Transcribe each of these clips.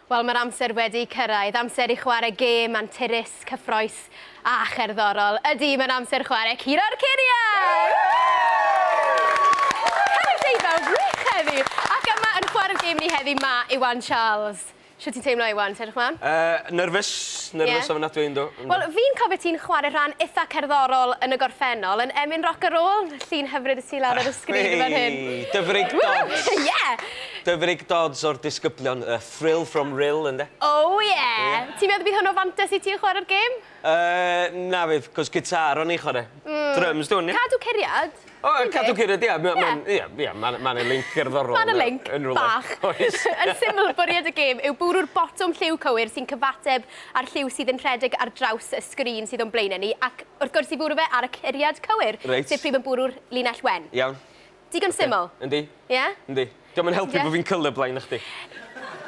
Wel, mae'r amser wedi cyrraedd, amser i chwarae gêm anturus, cyffrous a cherddorol. Ydy, mae'n amser chwarae Curo'r Curiau! Hello Dave, fel wych heddi! Ac yma yn chwarae'r gêm ni heddi, mae Iwan Charles. Shwt ti'n teimlo Iwan, ti edrych mlaen? Yy, nyrfys, nyrfys ofnadwy, yndw, yndw. Wel, fi'n cofio ti'n chwarae rhan itha cerddorol yn y gorffennol, yn Emyn Roc a Rôl, llun hyfryd o ti lawr ar y sgrin fan hyn. Achwi! Dyfrig Dodds! Woo! Ie! Dyfrig Dodds o'r disgyblion, yy thrill from rill ynde? Oh yeah! Ti'n meddwl bydd hwn o fantes i ti yn chwarae'r gêm? Yy, na fydd, 'cos gitâr o'n i'n chwarae. Dryms dwn i. Cadw curiad. O, cadw curiad, ia, ma' ma'n, ia, ia, ma' 'na ma' 'na linc gerddorol yna. Ma' 'na linc, bach. Oes. Yn syml, bwriad y gêm yw bwrw'r botwm lliw cywir sy'n cyfateb â'r lliw sydd yn rhedeg ar draws y sgrin sydd o'n blaenau ni, ac wrth gwrs i fwrw fe ar y curiad cywir... Reit. ...sef pryd mae'n bwrw'r linell wen. Iawn. Digon syml. Yndi. Ie? Yndi. Dio'm yn helpu bod fi'n colour blind na chdi.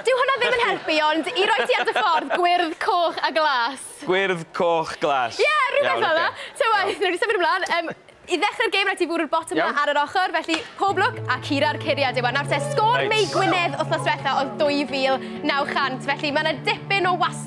Dyw hwnna ddim yn helpu ond i roi ti ar dy ffordd, gwyrdd, coch a glas. Gwyrdd, coch, glas. Ie, rhywbeth fel 'na. Ta waeth, newn ni symud ymlan. Yym, i ddechrau'r gêm rhaid ti fwrw'r botwm 'na ar yr ochr, felly pob lwc a cura'r curiad yw e. Nawr te, sgôr Mei Gwynedd wythnos dwetha oedd 2,900, felly ma' 'na dipyn o wastad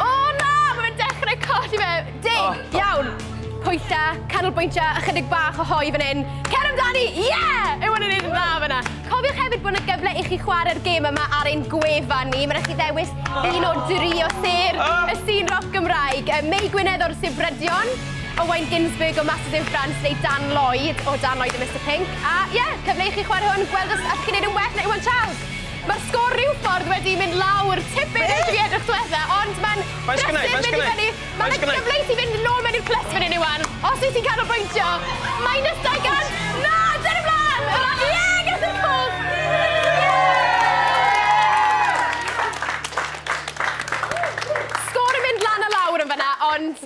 O na! Mae fe'n dechrau colli fe! Deg! Iawn! Pwylla, canolbwyntio, ychydig bach o hoe fan hyn. Cer amdani! Ie! Yw hwn yn neud yn dda fyna? Cofiwch hefyd bod yna gyfle i chi chwarae'r gêm yma ar ein gwefan ni. Mae'n rhaid chi ddewis un o dri o sêr y sîn roc Gymraeg. Mei Gwynedd o'r Sir Brydion, Owain Ginsberg o Masters in France neu Dan Lloyd o Dan Lloyd a Mister Pink. A ie, cyfle i chi chwarae hwn, gweld os allwch chi wneud yn well na Iwan Charles. Mae'r sgôr rywffordd wedi mynd lawr tipyn yn ddiedrwch dwetha ond mae'n brysur mynd i fyny. Mae 'na gyfle i ti fynd nôl mewn i'r clyts fan hyn Iwan os wyt ti'n canolbwyntio. Minus dau gant! Na! Cer ymlaen! Yr a- Ie! Ges i'r cwch! Sgôr yn mynd lan a lawr yn fan'na ond